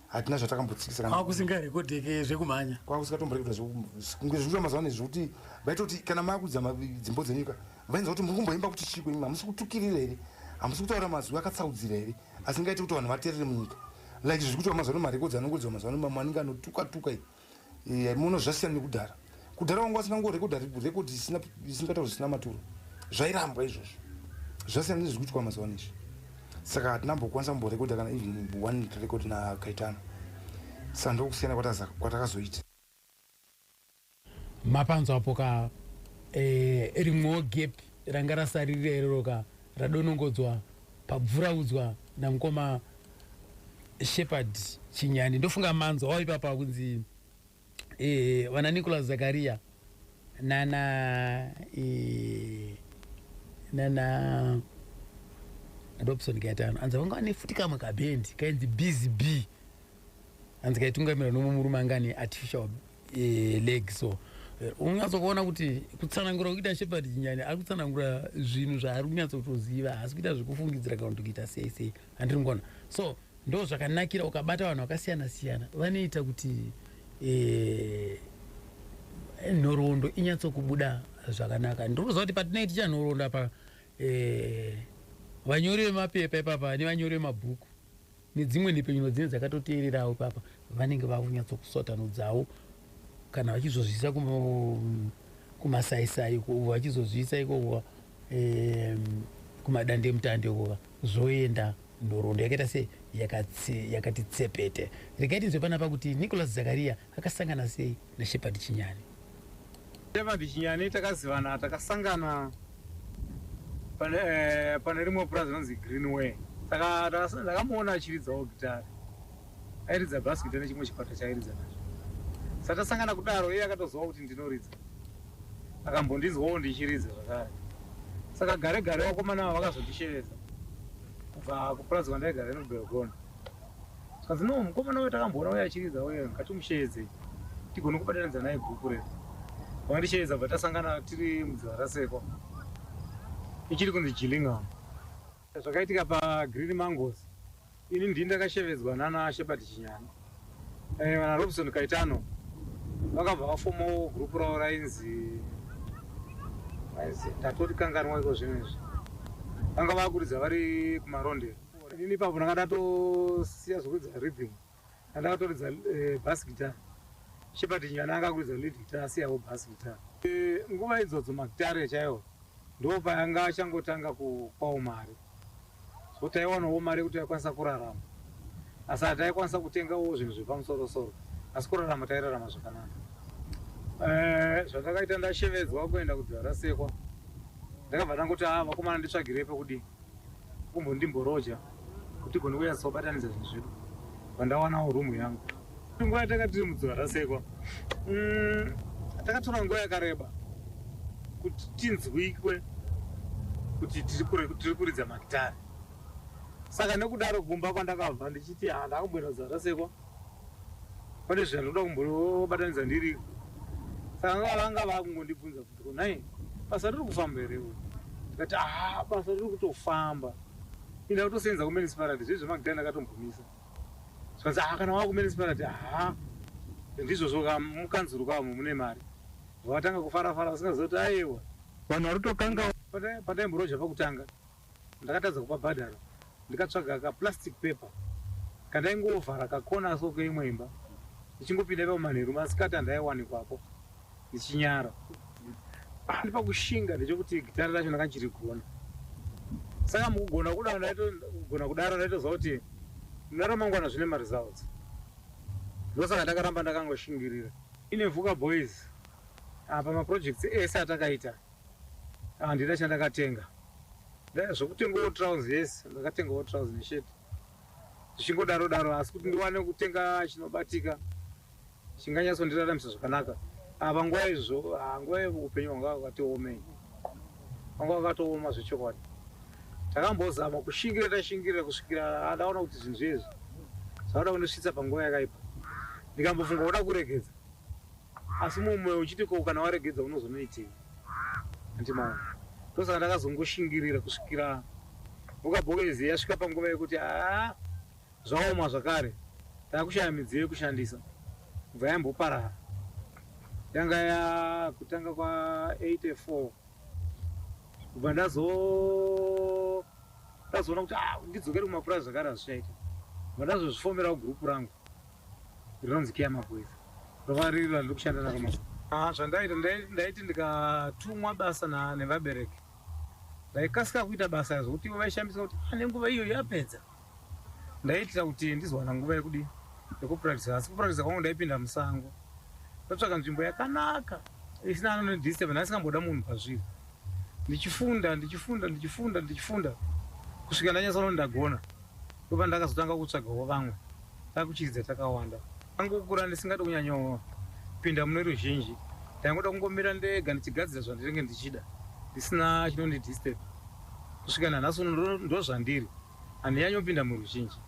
hatina zvatakambotsikisakwakusingarekodeke zvekumhanya kwakusikatomborekoda zvekunge zvikuita mazuva nezvekuti vaitoti kana maakudza dzimbo dzenyika vainzwa kuti muri kumboimba kuti chiko imi hamusi kutukirira here hamusi kutaura mazwi akatsaudzira here asingaiti kuti vanhu vaterere munyika like zviri kutiwa mazuva nomarekodzi anongodziwa mazuva nomamwe anenge anotuka tuka eh, muno zvasiyana nekudhara kudhara wanga wasingangorekodha rekodhi isingataura zvisina maturo zvairambwa izvozvo zvasiyana nezviri kutiwa mazuva ano izvi saka hatina mbokwanisa kumborekodha kana even one record nakaitana saka ndokusiyana kwatakazoita Mapanzwa apo ka eh, rimwewo gap ranga rasarira irero ka radonongodzwa pabvuraudzwa namukoma Shepherd Chinyani ndofunga manzwa wao ipapa kunzi eh, vana Nicholas Zakaria nana eh, nana Robson Gaetano anzi vanga vane futi kamwe kabhendi kainzi Busy Bee hanzi kaitungamirwa nomwe murume anga ane artificial eh, leg so eh, unyatsokuona kuti kutsanangura kuita shepherd chinyani ari kutsanangura zvinhu zvaari kunyatsotoziva haasi kuita zvekufungidzira kana kuti kuita sei sei handiri ngona so ndo zvakanakira ukabata vanhu vakasiyana siyana vanoita kuti eh, nhoroondo inyatsokubuda zvakanaka ndiri kuziva kuti patinoiti chanhoroondo apa eh, vanyori vemapepa ipapa nevanyori vemabhuku nedzimwe nhepfenyuro dzinenge dzakatoteererawo ipapa vanenge vava kunyatsokusotanudzawo kana vachizozviisa kumasaisai uko vachizozviisa ikoko kumadande mutande ukova zvoenda nhoroondo yakaita se yakati tsepete rikaiti nzwe panapa kuti nicholas zakariya Akasangana sei naShepherd Chinyani? Shepherd Chinyani takazivana takasangana pane eh, pane rimwe purazi rinonzi Greenway. Taka- taka- Ndakamuona achiridzawo gitare. Airidza bass guitar nechimwe chikwata chaairidza nacho. Saka tasangana kudaro iye akatoziva kuti ndinoridza. Akambondinzwawo ndichiridza zvakare. Saka gare gare vakomana ava vakazondishevedza kubva kupurazi kwandaigara ino Belgona. Zvikanzi no mukomana uyo takamboona uyo achiridza uyo ngatimusheedzei tigone kubatanidza naye bhuku redu. Vakandisheedza bva tasangana tiri mudziva rasekwa ichiri kunzi Gillingham. Zvakaitika paGreen Mangoes ini ndini ndakashevedzwa nana Shepherd Chinyani. Eh, vana Robson Kaitano vakabva vafomawo group ravo rainzi ndatotikanganwa iko zvinhu izvi vanga vakuridza vari kumarondero Ini ipapo ndanga ndatosiya zvekuridza rhythm andakatoridza eh, bass guitar Shepherd Nyana anga akuridza lead guitar asiyawo bass guitar eh, nguva idzodzo magitare chaiwo ndo payanga achangotanga kupawo mari so taiwanawo mari yekuti taikwanisa kurarama asi hataikwanisa kutengawo zvinhu zvepamusorosoro asi kurarama tairarama zvakanaka eh, zvandakaita ndashevedzwa kuenda kudzara sekwa ndakabva ndangoti a ah, vakomana nditsvagirei pekudii Kumbondimboroja kuti tigone kunyatsa kubatanidza zvinhu zvedu pandawanawo room yangu. Nguva yatanga tiri mudziva rasekwa mm, takatora nguva yakareba kuti tinzwikwe kuti tiri kuridza magitare saka nekudaro kumba kwandakabva ndichiti ah, ndakamboenda kudziva rasekwa pane zvinhu zvandinoda kumbobatanidza ndiriko saka vanga vakungondibvunza Nhai basa riri kufamba here iwe? Ndikati haa basa riri kutofamba ini ndakutosenza kumenisipalati zviye zvemakudai ndakatombomisa zvikanzi haa kana wava kumenisipalati haa ndizvozvo ka mukanzuru kavo mune mari vakatanga kufara fara vasingaziva kuti ayewa vanhu vari kutokangawo Pata- pataimborozha pakutanga Ndakatadza kubabhadhara ndikatsvaga ka plastic paper kandaingovhara ka corner so keimwe imba ndichingopinda ipapo manheru masikati andaiwanikwapo ndichinyara handi pakushinga ndechekuti gitare racho ndanga ndichirigona saka mukugona kudaro ndaitogona kudaro ndaitoziva kuti muna ramangwana zvine maresults ndosaka ndakaramba ndakangoshingirira ine vuka boys apa maprojects ese atakaita Handina chandakatenga. Ndaya zvekutengawo trouse yes ndakatengawo trouse neshirt. Zvichingodaro daro asi kuti ndiwane kutenga chinobatika chinganyatso ndiraramisa zvakanaka. Apa nguva izvo ah, nguva upenyu hwanga wakatiomei. Hwanga wakatooma zvechokwadi. Takambozama kushingirira tashingirira kusvikira adaona kuti zvinhu zviye izvi. Zvauda kundisvitsa panguva yakaipa. Ndikambofunga kuda kuregedza. Asi mumwe moyo uchiti ko kana waregedza unozonoitei. Hanti maona. Ndosaka ndakazongoshingirira kusvikira mhuka bhokezi yasvika panguva yekuti haa zvaoma zvakare takushaya midziyo yekushandisa kubva yamboparara. Yanga yakutanga kwa 84 kubva ndazo ndazoona kuti ah ndidzokere kumapurazi zvakare hazvichaita. Kubva ndazozvifomerawo group rangu Rinonzi Care Mabweza. Rova riri randiri kushanda naro mazuva. Ah, zvandaita ndai- ndaiti ndikatumwa basa na- nevabereki ndaikasika kuita basa zvokuti ivo vaishambisa kuti "Ah, nenguva iyo yapedza ndaiitira kuti ndizowana nguva yekudi yekupurakitisa asi kupurakitisa kwangu ndaipinda musango ndotsvaka nzvimbo yakanaka isina anonodisturb ndaisingamboda munhu pazviri ndichifunda ndichifunda ndichifunda ndichifunda kusvika ndanyatsoona kuti ndagona ndopandakazotanga kutsvagawo vamwe Takuchiridza takawanda. Ndangokura ndisingade kunyanyopinda mune ruzhinji. Ndaingoda kungomira ndega ndichigadzira zvandinenge ndichida ndisina chinondidisturb. Kusvika nanhasi uno ndozvandiri. Handinyanyopinda muruzhinji.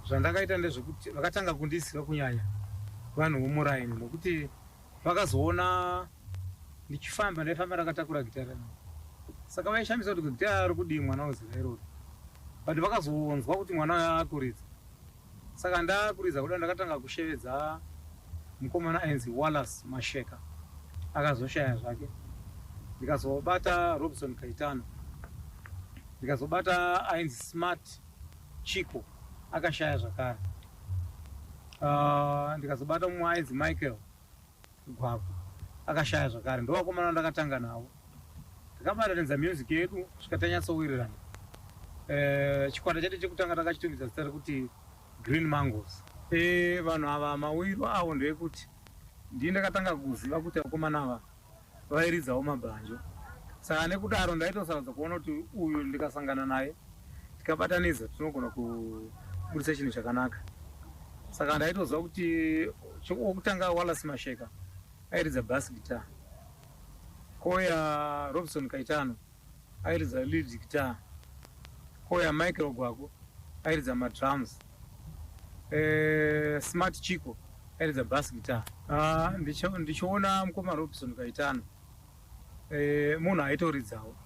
Zvandakaita ndezvekuti vakatanga kundisiya kunyanya vanhu vomuraini nokuti vakazoona ndichifamba ndaifamba ndakatakura gitare rangu. Saka vaishamisa kuti gitare rokudii mwana weZera irori. But vakazonzwa kuti mwana uyu akuridza. Saka ndakuridza kudai ndakatanga kushevedza mukomana ainzi Wallace Masheka akazoshaya zvake ndikazobata Robson Kaitano ndikazobata ainzi Smart Chico akashaya zvakare uh, ndikazobata mumwe ainzi Michael Gwagwa akashaya zvakare ndovakomana vandakatanga navo takabatanidza music yedu svika tanyatsowirirana eh, chikwata chete chekutanga takachitungidza zita rekuti green mangos eh, vanhu ava mawiro avo ndeyekuti ndii ndakatanga kuziva kuti vakomana ava vairidzawo mabhanjo saka nekudaro ndaitosarudza kuona kuti uyu ndikasangana naye tikabatanidza tinogona kuburitsa chinhu chakanaka saka ndaitoziva kuti wokutanga walas masheka airidza bas guitar koya robson kaitano airidza lead guitar koya michael gwako airidza madrums eh, smart chico airidza bas guitar ah, ndichiona mukoma robson kaitano eh, munhu aitoridzawo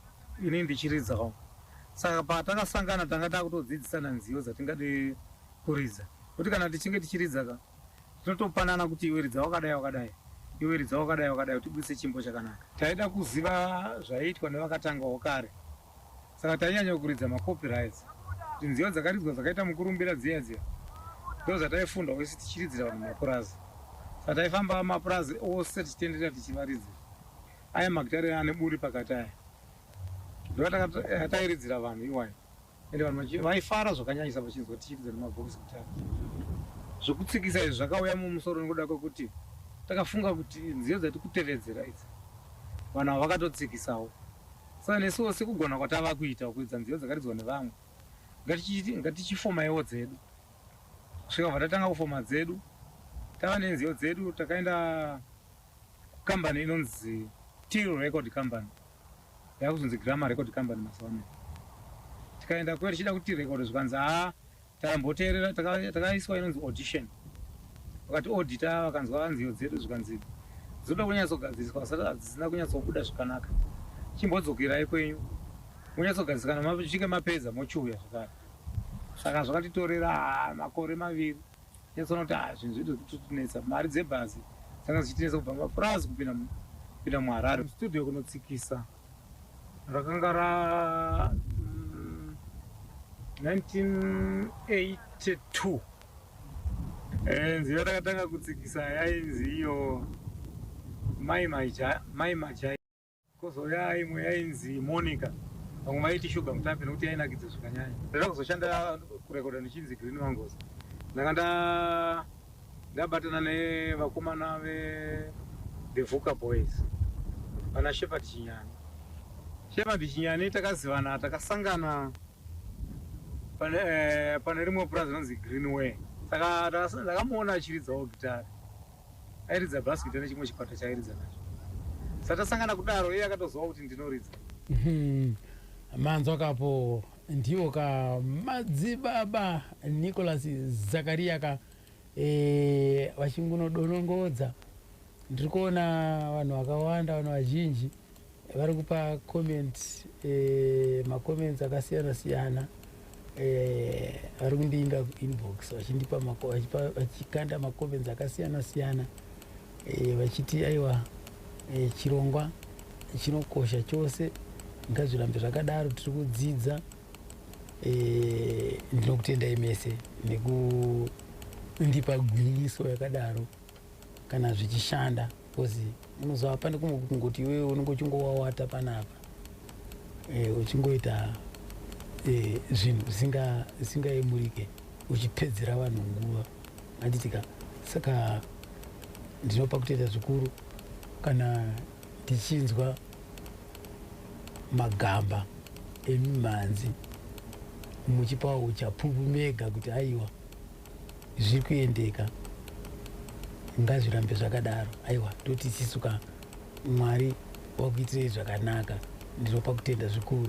ini ndichiridzawo saka patakasangana tanga takutodzidzisana nziyo dzatingade kuridza kuti kana tichinge tichiridza ka Totopanana kuti iwe ridza wakadai wakadai iwe ridza wakadai wakadai kuti tibudise chimbo chakanaka. Taida kuziva zvaiitwa nevakatangawo kare saka tainyanya kuridza macopyrights kuti nziyo dzakaridzwa dzakaita mukurumbira dziya dziya ndozvataifundawo isu tichiridzira vanhu mapurazi saka taifamba mapurazi ose tichitenderera tichivaridzira aya magitare ane buri pakati aya ndoatairidzira eh, vanhu iwayo. ende vanhu vaifara zvakanyanyisa vachinzwa tichiridza nemabhokisi kutanga zvokutsikisa izvi zvakauya mumusoro nekuda kwekuti takafunga kuti nziyo dzati kutevedzera idzi vanhu ava vakatotsikisawo saka nesuwo sekugona kwatava kuita kuridza nziyo dzakaridzwa nevamwe ngatichifomaiwo dzedu kusvika bva tatanga kufoma dzedu tava nenziyo dzedu takaenda kukambani inonzi til record company yakuzonzi Gramma Record Company mazuva ano tikaenda kuyo tichida kuti record zvikanzi haa takamboteerera takaiswa inonzi audition vakati odita vakanzwa vanziyo dzedu zvikanzi dzinoda kunyatsogadziriswa vasati hadzisina kunyatsobuda zvakanaka chimbodzokerai kwenyu monyatsogadzirisana mapedza mochiuya zvakare saka zvakatitorera makore maviri Ndinozoona kuti ah zvinhu zvedu zvikutotinetsa mari dzebhazi dzanga dzichitinetsa kubva mapurazi kupinda mu- kupinda muharare mustudio kunotsikisa rakanga ra mm, 1982 Eh, nziyo yatakatanga kutsikisa yainzi iyo mai Maija- mai majai Kozouya imwe yainzi Monica vamwe vaiti Sugar Mutape nekuti yainakidza zvakanyanya. Ndakada kuzoshanda kurekoda ndichinzi Green Mangoes. Ndanga nda ndabatana nevakomana ve The Vuka Boys vana Shepherd Chinyani. Shepherd Chinyani takazivana takasangana pane eh, pane rimwe purazi rinonzi Greenway. Saka ndakamuona achiridzawo gitari. Airidza bhasikiti nechimwe chikwata chaairidza nacho. Satasangana kudaro iye akatoziva kuti ndinoridza. Mhm. Manzwa kapo ndivo ka madzibaba Nicholas Zakaria ka eh, vachingunodonongodza. Ndiri kuona vanhu vakawanda vanhu vazhinji vari kupa comments eh, macomments akasiyana siyana eh, vari kundiinda inbox vachindipa vachikanda macomments akasiyana siyana eh, vachiti aiwa eh, chirongwa chinokosha chose ngazvirambe zvakadaro tiri kudzidza eh, ndinokutendai mese nekundipa gwinyiso yakadaro kana zvichishanda because unozova pane kumwe kungoti iwewe unenge uchingowawata panapa eh, uchingoita eh, zvinhu zvisingaemurike uchipedzera vanhu nguva anditika saka ndinopa kutoita zvikuru kana ndichinzwa magamba emimhanzi muchipawo uchapupu mega kuti aiwa zviri kuendeka ngazvirambe zvakadaro aiwa toti isisu ka mwari wakuitirei zvakanaka ndinopa kutenda zvikuru